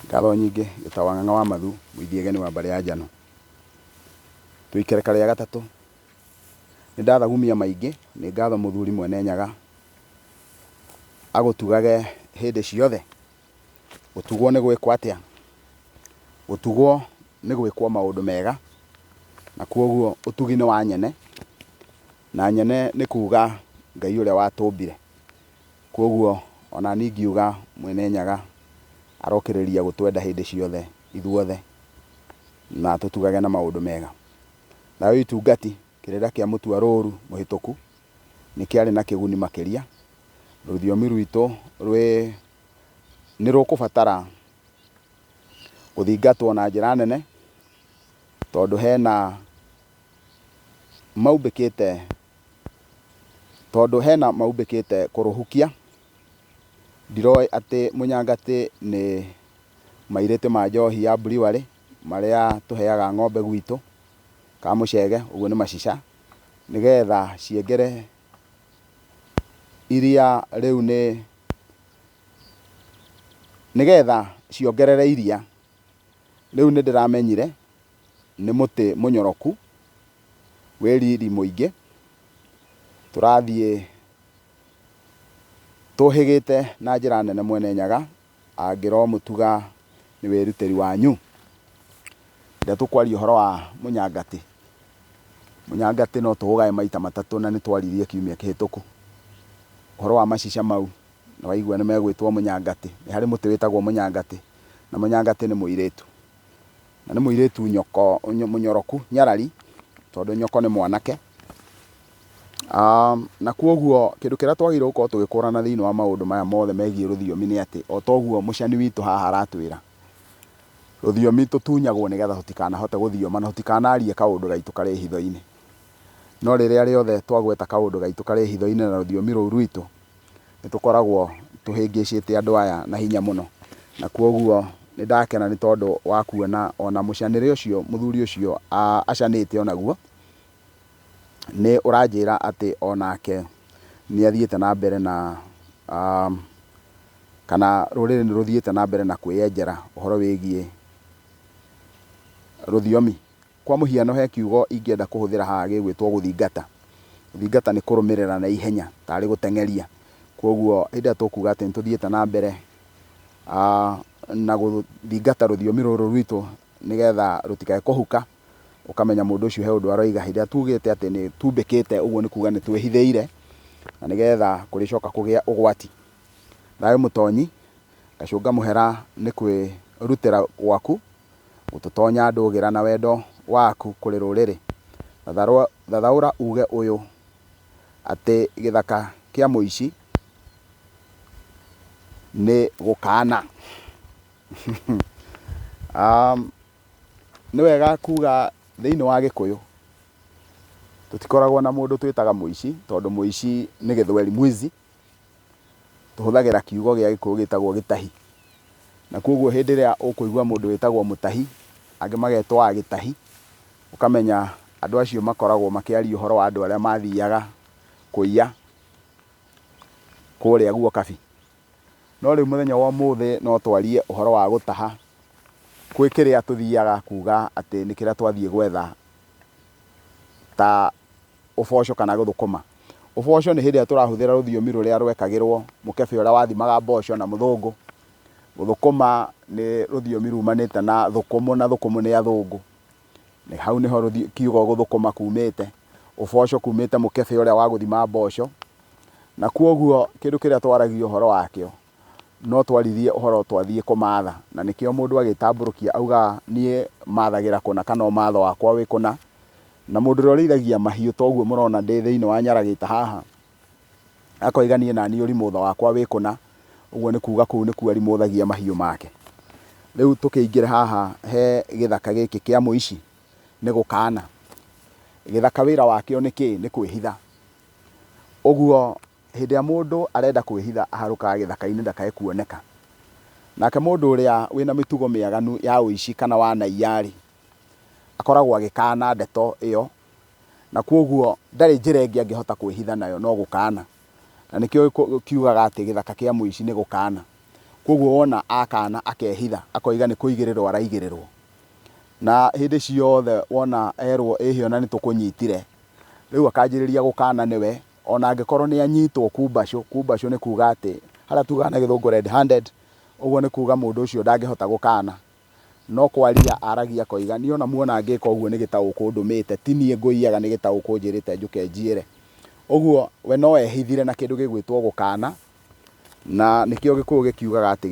Ngatho nyingĩ ta wang'ang'a wa mathu mũithiageni wa mbarĩ ya njano tũikereka rĩa gatatũ nĩ ndathagumia maingĩ nĩ ngatho mũthuri mwene nyaga agũtugage hĩndĩ ciothe gũtugwo nĩ gwĩkwo atĩa gũtugwo nĩ gwĩkwo maũndũ mega na kwoguo ũtugi nĩ wa nyene na nyene nĩ kuga ngai ũrĩa watũmbire Kwoguo o na niĩ ngiuga, Mwene Nyaga arokĩrĩria gũtwenda hĩndĩ ciothe ithuothe, na tũtugage na maũndũ mega. Nayo itungati, kĩrĩra kĩa mũtua rũũru mũhĩtũku nĩ kĩarĩ na kĩguni makĩria. Rũthiomi rwitũ rwĩ nĩ rũkũbatara gũthingatwo na njĩra nene, tondũ hena maumbĩkĩte Tondũ hena maumbĩkĩte kũrũhukia, ndiroĩ atĩ mũnyangatĩ nĩ mairĩtĩ ma njohi ya buriwarĩ marĩa tũheaga ng'ombe gwitũ ka mũcege, ũguo nĩ macica, nĩgetha ciengere iria rĩu nĩ, nĩgetha ciongerere iria. Rĩu nĩndĩramenyire nĩ mũtĩ mũnyoroku. wĩ riri mũingĩ, tũrathiĩ tũhĩgĩte na njĩra nene Mwene Nyaga, angĩromũtuga nĩ wĩrutĩri wanyu. Rĩrĩa tũkwaria ũhoro wa mũnyangatĩ, mũnyangatĩ no tũũgae maita matatũ na nĩ twaririe kiumia kĩhĩtũku. Ũhoro wa macica mau, nĩ waigua nĩ megwĩtwo mũnyangatĩ, nĩ harĩ mũtĩ wĩtagwo mũnyangatĩ, na mũnyangatĩ nĩ mũirĩtu. Na nĩ mũirĩtu nyoko, nyo- mũnyoroku, nyarari, tondũ nyoko nĩ mwanake. Um, na kwoguo kĩndũ kĩrĩa twagĩrĩirwo gũkorwo tũgĩkũrana thĩinĩ wa maũndũ maya mothe megiĩ rũthiomi nĩ atĩ o toguo mũcani witũ haha aratwĩra rũthiomi tũtunyagwo nĩgetha tũtikanahote gũthioma na tũtikanarie kaũndũ gaitũ karĩ hitho-inĩ no rĩrĩa rĩothe twagweta kaũndũ gaitũ karĩ hitho-inĩ na rũthiomi rũu rwitũ nĩ tũkoragwo tũhĩngĩcĩte andũ aya na hinya mũno. Na kwoguo nĩ ndakena nĩ tondũ wa kuona o na mũcanĩre ũcio mũthuri ũcio acanĩte o naguo, nĩ ũranjĩra atĩ o nake nĩ athiĩte na mbere na kana rũrĩrĩ nĩ rũthiĩte na mbere na kwĩyenjera ũhoro wĩgiĩ rũthiomi Kwa mũhiano, he kiugo ingĩenda kũhũthĩra haha gĩgwĩtwo gũthingata. Gũthingata nĩ kũrũmĩrĩra na ihenya, tarĩ gũteng'eria. Kwoguo hĩndĩ ĩrĩa tũkuuga atĩ nĩ tũthiĩte na mbere na gũthingata rũthiomi rũrũ rwitũ nĩgetha rũtikae kũhuka, ũkamenya mũndũ ũcio he ũndũ aroiga. Hĩndĩ ĩrĩa tuugĩte atĩ nĩ tumbĩkĩte, ũguo nĩ kuuga nĩ twĩhithĩire na nĩgetha kũrĩcoka kũgĩa ũgwati. Thayũ Mũtonyi, Gacũnga Mũhera nĩ kwĩrutĩra gwaku. gũtũtonya ndũgĩra na wendo waku kũrĩ rũrĩrĩ. Thathaũra uge ũyũ atĩ gĩthaka kĩa mũici nĩ gũkana. Nĩ wega kuga thĩinĩ wa gĩkũyũ tũtikoragwo na mũndũ twĩtaga mũici tondũ mũici nĩ gĩthweri mwizi. Tũhũthagĩra kiugo gĩa gĩkũyũ gĩtagwo gĩtahi. Na kwoguo hĩndĩ ĩrĩa ũkũigua mũndũ wĩtagwo mũtahi, angĩ magetwo agĩtahi, ũkamenya andũ acio makoragwo makĩaria ũhoro wa andũ arĩa mathiaga kũiya kũrĩa guo kabi. No rĩu mũthenya wa ũmũthĩ no twarie ũhoro wa gũtaha gwĩ kĩrĩa tũthiaga kuuga atĩ nĩ kĩrĩa twathiĩ gwetha ta... Ũboco kana gũthũkũma. Ũboco nĩ hĩndĩ ĩrĩa tũrahũthĩra rũthiomi rũrĩa rwekagĩrwo mũkebe ũrĩa wathimaga mboco na mũthũngũ. Gũthũkũma nĩ rũthiomi rumanĩte na thũkũmũ na thũkũmũ nĩ athũngũ. Hau nĩho kiugo gũthũkũma kumĩte. Ũboco kumĩte mũkebe ũrĩa wa gũthima mboco. Na kwoguo kĩndũ kĩrĩa twaragia ũhoro wakĩo. no twaririe ũhoro twathiĩ kũmaatha, na nĩkĩo mũndũ agĩtambũrũkia augaga niĩ mathagĩra kũna kana ũmatho wakwa wĩ kũna, na mũndũ ũrĩa ũrĩithagia mahiũ ta ũguo mũrona ndĩ thĩinĩ wa nyaragĩta haha, akoiga niĩ naniĩ ũrimũtho wakwa wĩ kũna, ũguo nĩ kuuga kũu nĩkuo arimũthagia mahiũ make. Rĩu tũkĩingĩre haha he gĩthaka gĩkĩ kĩa mũici nĩ gũkana. Gĩthaka wĩra wakĩo nĩ kĩĩ? Nĩ kwĩhitha. Ũguo... Hĩndĩ ĩrĩa mũndũ arenda kwĩhitha aharũkaga gĩthaka-inĩ ndakae kuoneka. Nake mũndũ ũrĩa wĩ na mĩtugo mĩaganu ya ũici kana wanaiya-rĩ, akoragwo agĩkaana ndeto ĩyo, na kwoguo ndarĩ njĩra ĩngĩ angĩhota kwĩhitha nayo no gũkaana. Na nĩkĩo kiugaga atĩ gĩthaka kĩa mũici nĩ gũkaana. Kwoguo wona akaana akehitha, akoiga nĩ kũigĩrĩrwo araigĩrĩrwo. Na hĩndĩ ciothe wona erwo ĩhĩ ona nĩ tũkũnyitire, rĩu akanjĩrĩria gũkaana nĩwe O na angĩkorwo nĩ anyitwo kumbacũ, kumbacũ nĩ kuuga atĩ, harĩa tuugaga na gĩthũngũ red handed, ũguo nĩ kuuga mũndũ ũcio ndangĩhota gũkaana, no kwaria aragia akoiga, niĩ o na muona ngĩĩka ũguo nĩ gĩtaũkũ ndũmĩĩte, ti niĩ ngũiyaga nĩ gĩtaũkũ njĩrĩĩte njũke njiĩre. Ũguo we no eehithire na kĩndũ gĩgwĩtwo gũkaana, na nĩkĩo Gĩkũyũ gĩkiugaga atĩ.